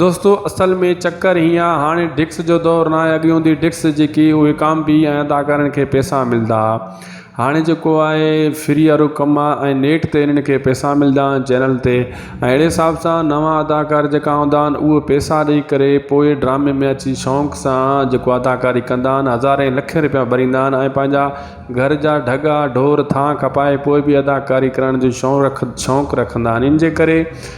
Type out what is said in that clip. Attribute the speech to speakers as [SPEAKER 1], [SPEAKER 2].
[SPEAKER 1] دوستو اصل ۾ چڪر هيئن آ هاڻي ڊڪس جو دور ناهي اڳي هوندي ڊڪس جيڪي اهي ڪام بي ۽ ادا ڪرڻ کي پيسا ملدا ها هاڻي جيڪو آهي فري وارو ڪم آ ۽ نيٽ تي انهن کي پيسا ملدا آهن چينل تي ۽ اهڙي حساب سان نوان اداڪار جيڪا هوندا آهن اهي پيسا ڏئي ڪري پوء ڊرامي ۾ اچي شونق سان جيڪو اداڪاري ڪندا آهن هزارين لکين روپيا ڀريندا آهن ۽ پنهنجا گهر جا ڍڳا ڍور ٿانء کپائي پوء بي اداڪاري ڪرڻ جو شون رک شونق رکندا آهن ان جي ڪري